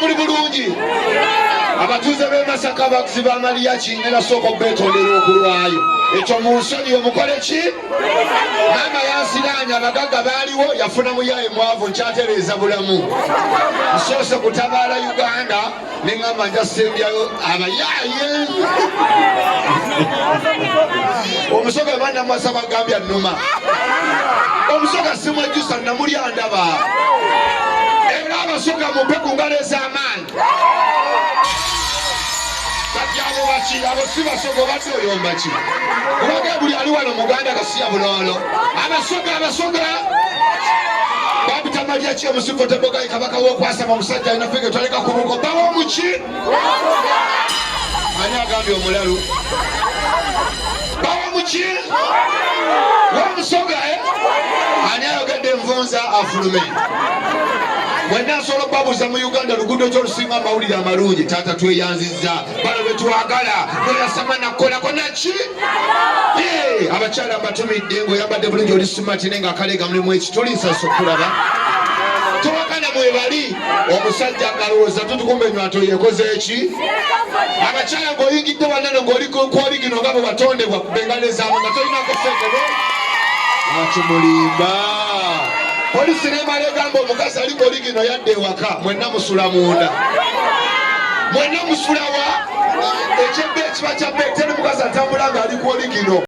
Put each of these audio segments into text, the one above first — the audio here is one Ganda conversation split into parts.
muli bulungi abatuuze b'e masaka abaguzi ba maliyaki ne nasooka okubetondera okulwayo ekyo mu nsoni omukole ki maama yansiraanya abagagga baaliwo yafuna muyaye mwavu nkyatereeza bulamu nsoose kutabaala uganda ne ŋŋamba nja sembyayo abayaaye omusoga banamwasa bagambya numa omusoga simwejjusa namuli andaba era abasoga mumpe ku ngalo ez'amaanyi abo baki abo si basoga obadde oyombaki kubage buli ali wano muganda kasiya buloolo abasoga abasoga babitamalya kyemusi Kodebogayi kabaka w'okwasama omusajja alina fege twaleka ku buko bawa omuki ani agambye omulalu bawa omuki wamusoga eh? ani ayogedde envunza afulume wenna asobola okubabuuza mu uganda luguudo kyolusinga amawulire amalungi taata tweyanziza bano betwagala noyasama nakukolako naki abakyala mbatumidde ngaoyambadde bulungi matine nga akaleega mulimu ekitulisa sokulaba tubakana mwebali omusajja ngalowooza tutukumba enywato yekoze eki abakyala ngaoyingidde wanano ngaolikwoligi noga bwe watondebwa bengale zaabo nga tolinako sekebe akimulimba polisi nemala egamba omukazi aliko oligino yadde ewaka mwenna musula munda mwenna musulawa ekyebba ekiba kyabba eteri mukazi atambula ng'ali ku oligino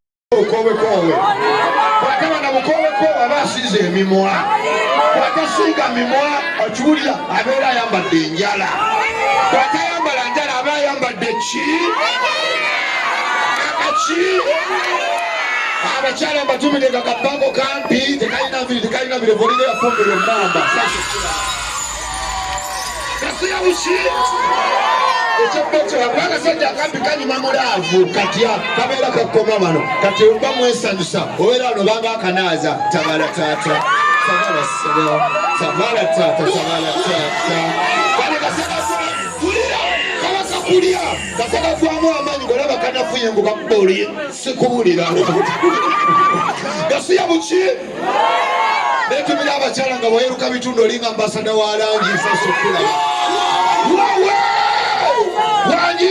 emimwa bwatasiiga mimwa okiwulira abeera ayambadde enjala bwatayambala njala aba ayambadde ki akaki abakyala mbatumide nga kapango kampi tekalina nviri tekalina birevolire yafumbirwa emamba akasajja akampi kanyuma mulaavu katya kabeera kakoma wano kati oba mwesanyusa obeera wano banga akanaaza tabala taata tabala sebo tabala taata tabala taata kale kasakakulira kabakakulya kasakakwamu amaanyi golaba kanafuye ngo kakuba oli sikuwulira gasiya buki netumira abakyala nga wayeruka bitundu olinga ambasada wa langi nsasukula wangi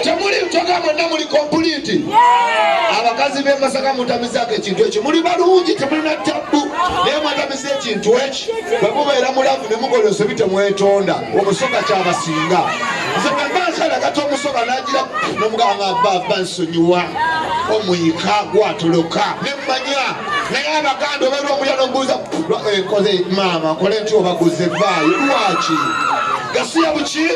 temuli ntoga mwonna muli kompuliti abakazi b'emasaka mutamizaako ekintu ekyo muli balungi temulina tabbu naye mwatamiza ekintu eki bwe mubeera mulavu ne mukola ensobi temwetonda omusoga kyabasinga nze bwe mba nsalagata omusoga nagira nomuganga baba nsonyiwa omuyika gwatoloka manya naye abaganda oba lwokuya nobuuza eh, nkoze maama nkole nti obaguze vaayo lwaki gasiya buki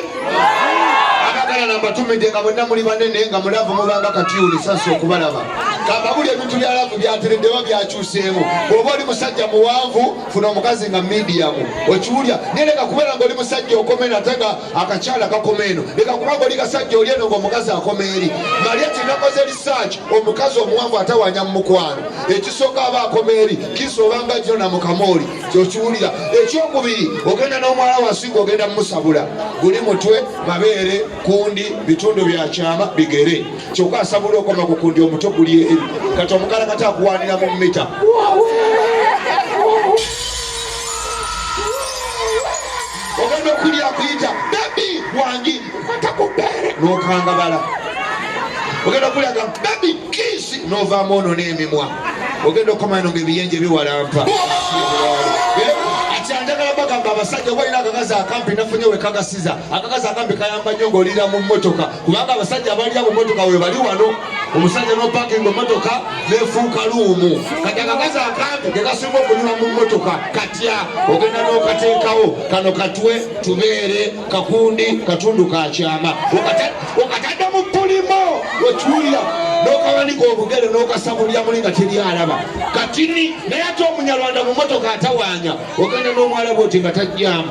abagala nambatumidde nga mwenna muli banene nga mulavu mubanga katiuli sasi okubalaba kamba buli ebintu byalavu byatereddewa byakyuseemu bwoba oli musajja muwanvu funa omukazi nga midiyamu okiwulya nereka kubeera nga oli musajja okomena ate nga akakyala kakoma eno leka kubanga oli kasajja oli eno ngaomukazi akoma eri malya tinakoze risaaki omukazi omuwanvu atawanya mu mukwano ekisooka aba akoma eri kisa obanga gino na mukama oli kyokiwulira ekyokubiri ogenda n'omwala wansi ngaogenda mumusabula guli mutwe mabeere kundi bitundu bya kyama bigere kyokka asabula okoma ku kundi omuto guli eri kati omukala kati akuwanira mu mita ogenda okulya akuyita bebi wangi okwata ku bbeere n'okangabala ogenda okulaga bebi kiisi n'ovaamu ono n'emimwa ogenda okukomano ngaebiyenje biwalampa akyandagala bagamba abasajja obalina akakazi akampi nafunye wekagasiza akakazi akampi kayamba nnyo ng'olira mu mmotoka kubanga abasajja abalira ku motoka webali wano omusajja nopakinga motoka nefuuka luumu kati akakazi akampi kekasinga okunyuma mu motoka katya ogenda nokateekawo kano katwe tubeere kakundi katundu kakyama okatadde mu pulimo okiwulira nokawanika obugere nokasabulya muli nga teri alaba katini naye ate omunyarwanda mu motoka atawanya ogenda nomwalaba oti nga tajjamu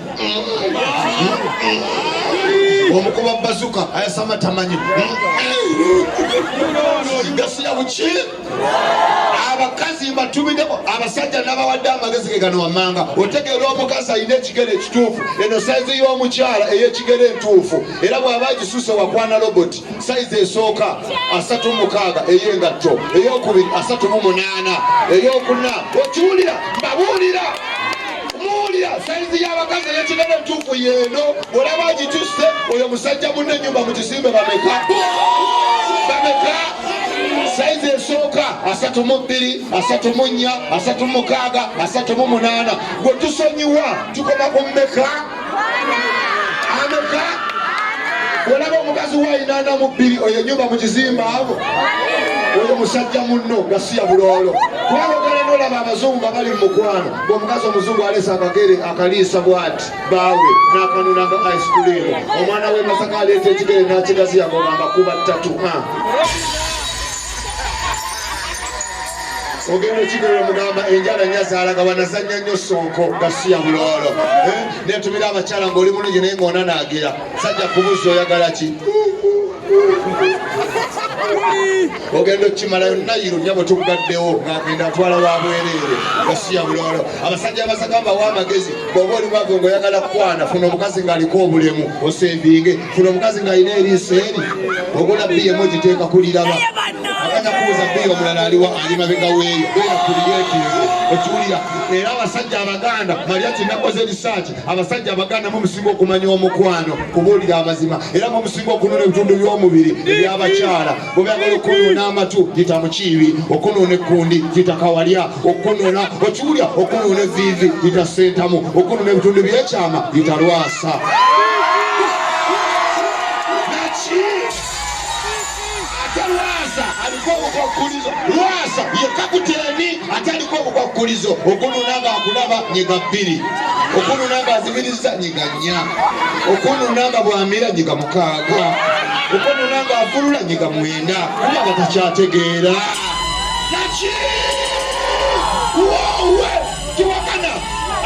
omukuba bazuka ayasama tamanyi gasiya buki abakazi mbatubideko abasajja nabawadde amagezi gegano wamanga otegeera omukazi alina ekigere ekituufu eno saizi y'omukyala eyekigere entuufu era bwaba agisuse wakwana robot saizi esooka asatu mukaaga eyengatto eyokubiri asatu mu munaana eyokuna okiwulira mbabuulira muwulira sayizi y'abakazi ey'ekinene entuufu yeeno olaba agitusse oyo musajja munne enyumba mu kisimbe bameka bameka sayizi esooka asatu mu bbiri asatu mu nnya asatu mukaaga asatu mu munaana gwe tusonyiwa tukoma ku mmeka ameka olaba omukazi wainana mu bbiri oyo enyumba mu kizimba abo oyo musajja munno nga siya buloolo kubanga ogala nolaba abazungu nga bali mu mukwano ngaomukazi omuzungu aleesa akagere akaliisa bwati baawe n'akanuna nga ice cream omwana we masaka aleeta ekigere n'akigaziya ng'ogamba kuba ttatu ogenda okigera omugamba enjala nyazaalaga wanazanya nnyo sonko gasiya buloolo eh? netumira abakyala ngaoli mulungi naye ngaona naagira sajja kubuzza oyagala ki ogenda okukimalayo nayiru nyabo tugaddewo ngagenda atwala wa bwereere gasiya buloolo abasajja abasagamba wa amagezi bwoba oli mwavu ngaoyagala kukwana funa omukazi ng'aliko obulemu osevinge funa omukazi ng'alina eriiso eri ogula bbi emu ogiteeka kuliraba akanya kubuuza bbi omulala aliwa ali mabega weeyo beera kuliyeti okiwulira era abasajja abaganda malya kinakoze risaaki abasajja abaganda mumusinga okumanya omukwano kubuulira amazima era mumusinga okunona ebitundu by'omubiri ebyabakyala bwebagala okunona amatu gita mukiibi okunona ekkundi gita kawalya okunona okiwulya okunona eviivi gita sentamu okunona ebitundu byekyama gita lwasa lwasa yekakuteni ate aliko obukwakulizo okununa nga akulaba nyiga bbiri okununa nga azibiriza nyiga nnya okununa nga bwamira nyiga kaaga okonona nga afulula nyiga mwenda kuba nga takyategeera naki wowe kiwakana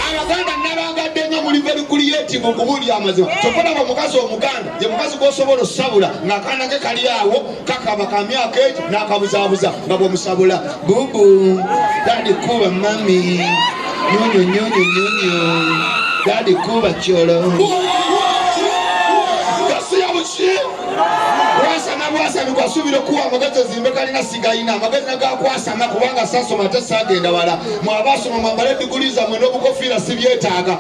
abaganda nabangadde nga muli very creative okubuulira amazima kyokolaba omukazi omuganda ye mukazi gwosobola osabula ng'akaana ke kali awo kakaba ka myaka egi n'akabuzabuza nga bwomusabula Bubu, dadi kuba mami, nyonyo nyonyo nyonyo, dadi kuba cholo. Gasiya buchi. Kwasama kwasama kwasubira kuwa amagezi zimbe kalina sigayina amagezi nagakwasama kubanga sasoma ate sagenda wala mwabasoma mwambale diguli zamwe n'obukofiira sibyetaaga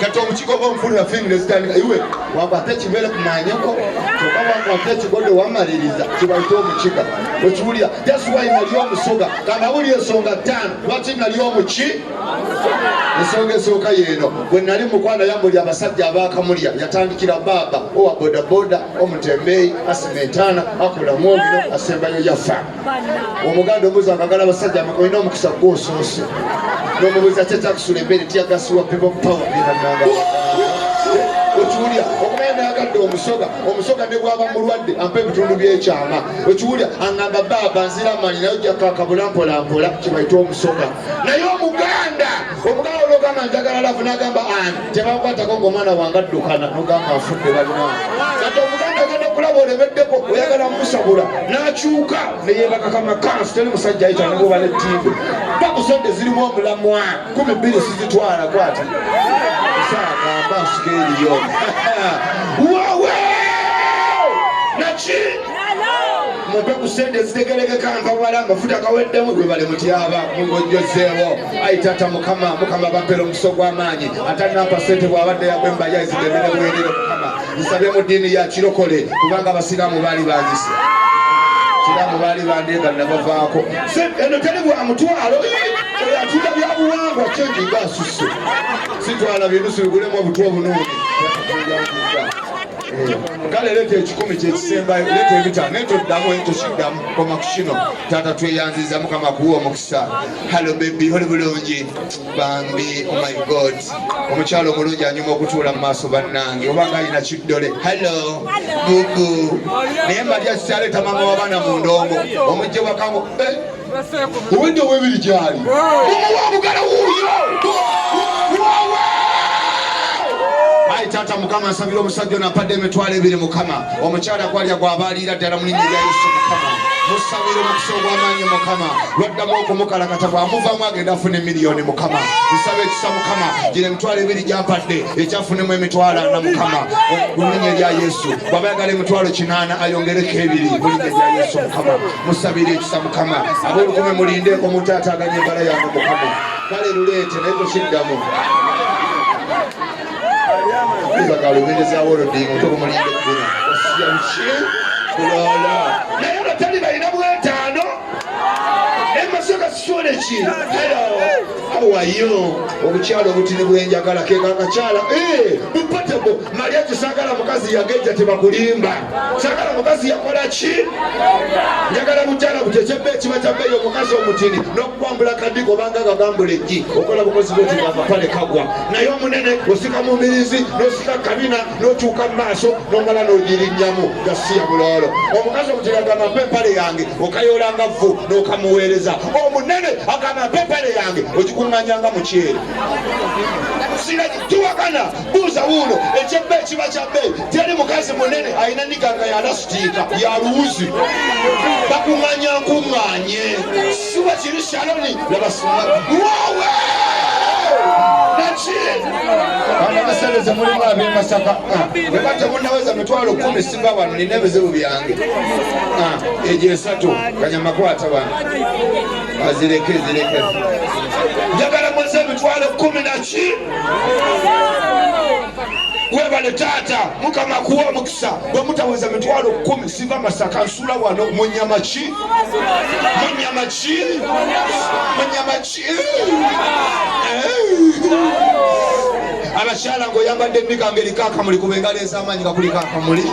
kati omukigo gwomufulira fingire zitandika iwe wakwata ekimere kumanyeko oba wakwata ekigodo wamaliriza kibaita omukiga okiwulira just why nali omusoga kanawuli ensonga ttaano lwaki nali omuki ensonga esooka yeeno bwe nali mukwana yambuli abasajja abakamulya yatandikira baaba owa bodaboda omutembeeyi asima entaana akola mwogino asembayo yafa omuganda omuzi akagala abasajja olina omukisa gwo osoose nomubuuza kyekyakusula embeere tiyagasiwa people power byebananga okiwulira okumanya nayagadde omusoga omusoga ne gwaba mulwadde ampa ebitundu byekyama okiwulira angamba baaba nzira amanyi naye ojakakabula mpolampola kyebaita omusoga naye omuganda omuganda ologamba njagala lavu nagamba ani tebakwatako ng'omwana wange addukana nogamba afudde balina kati omuganda agenda okulaba olemeddeko oyagala musabula n'akyuka neyebakakama kansi teri musajja ayita nekuba ne ttiibe bakusente zirimu omulamwa kumi bbiri sizitwala kwati saagamba nsika eriyo wawe naki mumpe ku sente ezitegerekeka mpawala amafuta gaweddemu gwe bali mutyaba mugojjozeewo ayi taata mukama mukama bampera omuso gw'amaanyi atanampa sente bw'abadde yagwemba yaizidemere bwerere mukama nsabye mu ddiini ya kirokole kubanga abasiraamu baali banyise abasiraamu baali bandeega nabavaako eno teri bwa mutwalo oyo atunda byabuwangwa kyengi nga asusse sitwala binusu bigulemu obutwa obunuuni eh, kale leeta ekikumi kyekisembayo leeta ebitaano naye toddamu ekyo kiddamu koma ku kino taata tweyanziza mukama kuwa omukisa Hello baby, oli bulungi bambi, oh my god, omukyalo omulungi anyuma okutuula mu maaso bannange, oba nga alina kiddole. Hello bubu, naye mbalya kyaleeta mama w'abaana mu ndongo omujja wakango obudde eh? obwebiri gyali omugala wuuyo taata mukama nsabira omusajja ono apadde emitwalo ebiri mukama omukyala gwalya gwaba aliira ddala mu linnya lya yesu mukama musabira omukisa ogw'amaanyi mukama lwaddamu okumukalakata bw'amuvamu agenda afuna emiliyoni mukama nsaba ekisa mukama gino emitwalo ebiri gyampadde ekyafunemu emitwalo ana mukama mu linnya erya yesu bwaba yagala emitwalo kinaana ayongereko ebiri mu linnya erya yesu mukama musabira ekisa mukama ab'olukume mulinde omuntu ataaganya embala yange mukama kale luleete naye kukiddamu obukyala obutini bwenjagala kekakakyala eh, bupatebo mali ekyo sagala mukazi yageja tebakulimba sagala mukazi yakola ki njagala bukyala butekyebba ekiba kyabbeeyo omukazi omutini no kwambula kadigo obanga gagambula ejji okola bukozi bwoti bwamapale kagwa naye omunene osika mu mbirizi nosika kabina nokyuka mu maaso nomala nogirinyamu gasiya bulolo omukazi omutiragamba mpa empale yange okayolanga vvu nokamuweereza omunene agamba mpa empale yange ogikunganyanga mukyere siraki tiwakana buuza wuuno ekyebba ekiba kya bbeeyi teri mukazi munene alina niganga yanasitiika ya luwuzi bakuŋŋanya nkuŋŋanye siwa kiri shaloni nabasuma wawe abasereze mulimu abemasaka weba ah, temunaweza mitwalo kumi singa wano nina ebizibu byange ah, egyo esatu kanyamakwata wano azireke zireke njagala mweze emitwalo kumi naki webale taata mukama kuwa omukisa bwemutaweza mitwalo kumi siva masaka nsula wano munyama ki munyama ki munyama ki abakyala ngaoyambadde emikango eriko akamuli kuba engalo ez'amaanyi nga kuliko akamuli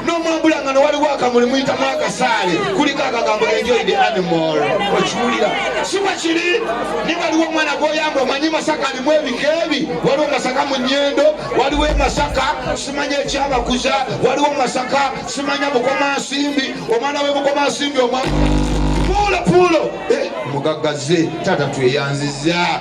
nomwambula nga newaliwo akamuli muyitamu akasaale kuliko akagambo enjoy the animal okiwulira siba kiri niwaliwo omwana gwoyamba omanyi masaka alimu ebika ebi waliwo masaka mu nyendo waliwo emasaka simanya ekyabakuza waliwo masaka simanya bukomansimbi omwana we bukomansimbi omwa puulo puulo eh, mugaggaze taata tweyanziza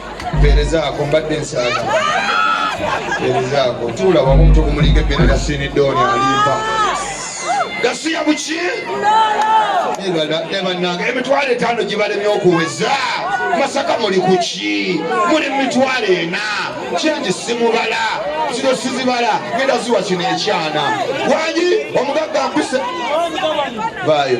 mpeerezaako mbadde nsaaga mpeerezaako tuula wamu omuntu ogumulinga ebbeere na sinidooni alimpa gasiya buki nebanange emitwalo etaano gibalemye okuweza masaka muli kuki muli mumitwalo ena kyengi simubala zino sizibala genda ziwa kino ekyana wangi omugagga mpise bayo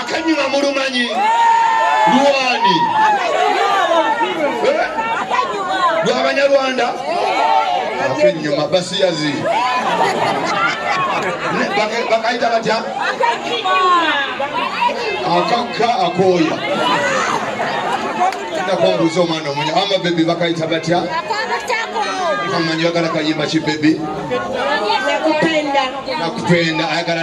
akanyuma mulumanyi luwani lwabanyarwanda eh? akenyuma basiyazi bakayita batya akakka akooya nakwambuuza omwana omunya ama bebi bakayita batya amanyi bagala kayimba ki bebi nakupenda ayagala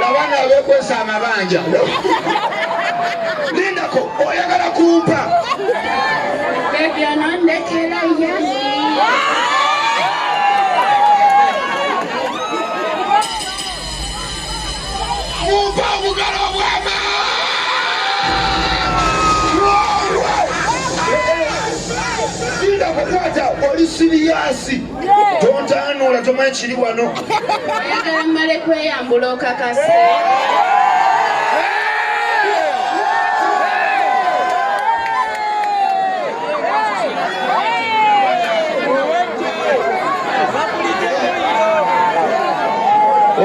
Labana abekwesa amabanja. Lindako oyagala kumpa. Baby anandekera yani. Kumpa obugalo bwama. Lindako kwata oli siriyasi. tontanuula tomanyi kiri wano ayagala mmale kweyambula okakase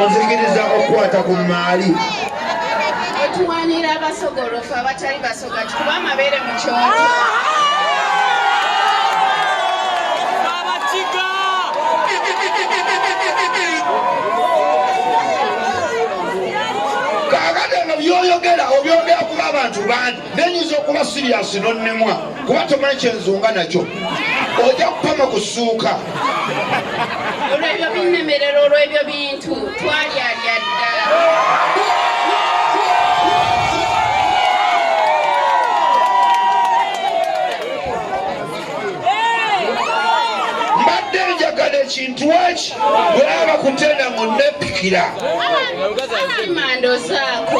onzikiriza okukwata ku maali otuwanira abasogolofu abatali kuba amabeere mu kyoto byoyogera obyogera kuba abantu bandi nenyinza okuba siriyasi nonemwa kuba tomanyi kyenzunga nakyo ojja kupama kusuuka olwebyo binnemerera olwebyo bintu twalyalya dda mbadde njagala ekintu waki bwaba kutenda mu nepikira mandozaako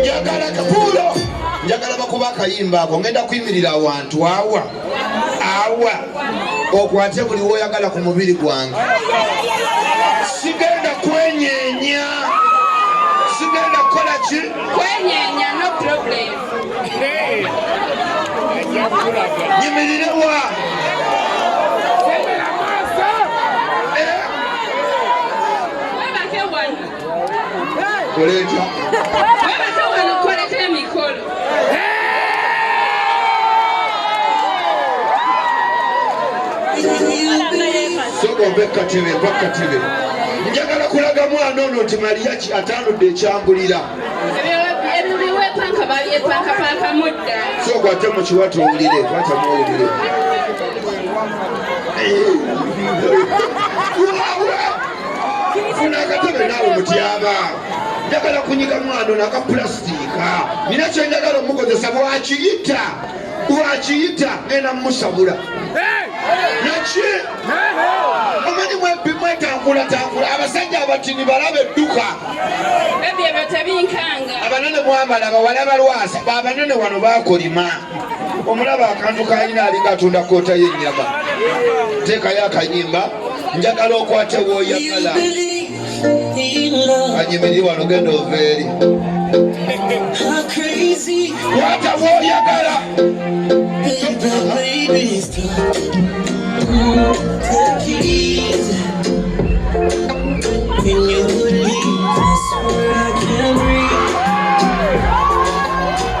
njagala kapuulo njagala bakuba akayimba ako ngenda kuyimirira awantu awa awa okwate buli woyagala ku mubiri gwange sigenda kwenyenya sigenda kukola ki kwenyenya no problem nyimirirewa Koleta. ove katebe va katebe njagala kulaga mwana ono nti maliyaki atanudde ekyambulira sooka ate mukiwata owulire kwata muwulire funa akatebe naawe mutyaba njagala kunyiga mwana ono akapulasitiika nina kyenjagala omukozesa bwakiyita bwakiyita ngenda mumusabula naki omanyi mwetambulatanvula abasajja abatini balaba edduka abanene mwambala bawala balwasa babanene wano bakolima omulaba akantu kalina alinga atunda koota y'ennyama teekayo akanyimba njagala okwate wooyagala anyimirire wano genda ova eri kwata wooyagala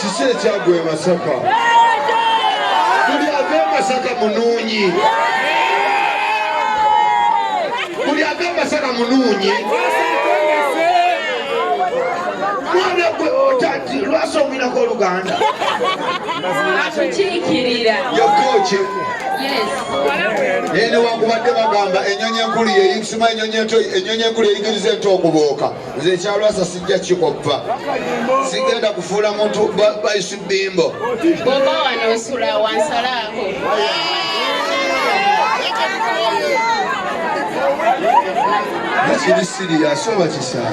kiki ekyagwa e masaka buli ava e masaka munuunyi buli ava e masaka munuunyi mwana gwe otati lwasoomirako oluganda atukiikirira yokoki naye newankubadde bagamba enyonyi enkulu yeyisima enyonyi enkulu yeyigiriza ento okubooka nze ekyalwasa sijja kikoppa sigenda kufuula muntu baisu bimbo ekiri siri yasoba kisaa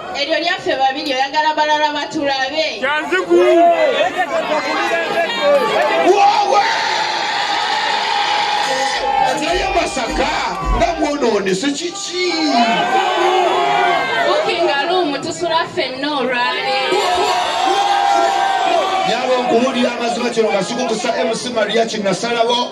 Eryo lyaffe babiri oyagala balala batulabe. Kyanziku. Wowe! Naye Masaka nga mwonoonese kiki? Bukinga luumu tusula ffenna olwaleero. Nyabo nkubuulira amazima kino nga sikukusa MC Maria kinasalawo